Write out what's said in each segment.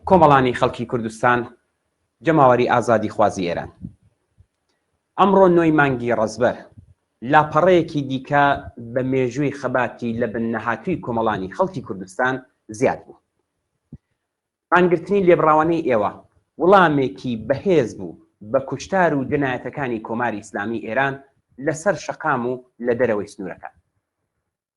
کۆمەڵانی خەڵکی کوردستان، جەماوەری ئازادیخوازی ئێران. ئەمڕۆ نۆی مانگی ڕەزبەر، لاپەڕەیەکی دیکە بە مێژووی خەباتی لە بن نەهاتووی کۆمەڵانی خەڵکی کوردستان زیاد بوو. مانگرتنی لێبڕاوانەی ئێوە، وڵامێکی بەهێز بوو بە کوشتار و جەنایەتەکانی کۆماری ئیسلامی ئێران لە سەر شەقام و لە دەرەوەی سنوورەکان.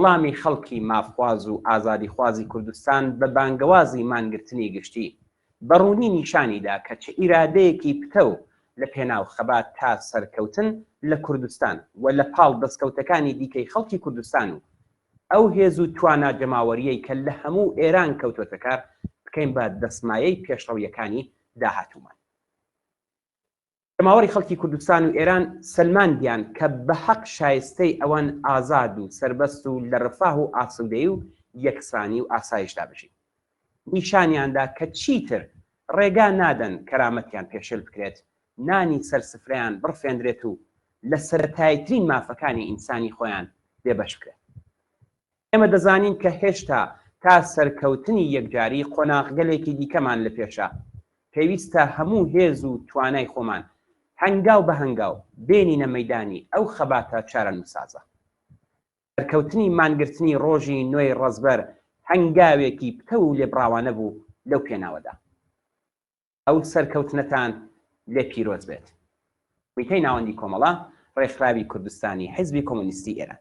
وڵامی خەڵکی مافخواز و ئازادیخوازی کوردستان بە بانگەوازی مانگرتنی گشتی، بە ڕوونی نیشانی دا کە چ ئیرادەیەکی پتەو لە پێناو خەبات تا سەرکەوتن لە کوردستان و لە پاڵ دەستکەوتەکانی دیکەی خەڵکی کوردستان و ئەو هێز و توانا جەماوەریەی کە لە هەموو ئێران کەوتۆتە کار، بکەین بە دەسمایەی پێشڕەویەکانی داهاتوومان. جەماوەری خەڵکی کوردستان و ئێران سەلماندیان کە بە هەق شایستەی ئەوەن ئازاد و سەربەست و لە رفاه و ئاسوودەیی و یەکسانی و ئاسایشدا بژین. نیشانیاندا کە چیتر رێگا نادەن کەرامەتیان پێشێل بکرێت، نانی سەر سفرەیان بڕفێندرێت و لە سەرەتاییترین مافەکانی ئینسانی خۆیان بێبەش بکرێن. ئێمە دەزانین کە هێشتا تا سەرکەوتنی یەکجاری قۆناغگەلێکی دیکەمان لە پێشە، پێویستە هەموو هێز و توانای خۆمان هەنگاو بە هەنگاو بێنینە مەیدانی ئەو خەباتە چارەنووسسازە. سەرکەوتنی مانگرتنی ڕۆژی نۆی ڕەزبەر هەنگاوێکی پتەو و لێبڕاوانە بوو لەو پێناوەدا. ئەو سەرکەوتنەتان لێ پیرۆز بێت. کومیتەی ناوەندی کۆمەڵە ڕێکخراوی کوردستانی حیزبی کۆمۆنیستی ئێران.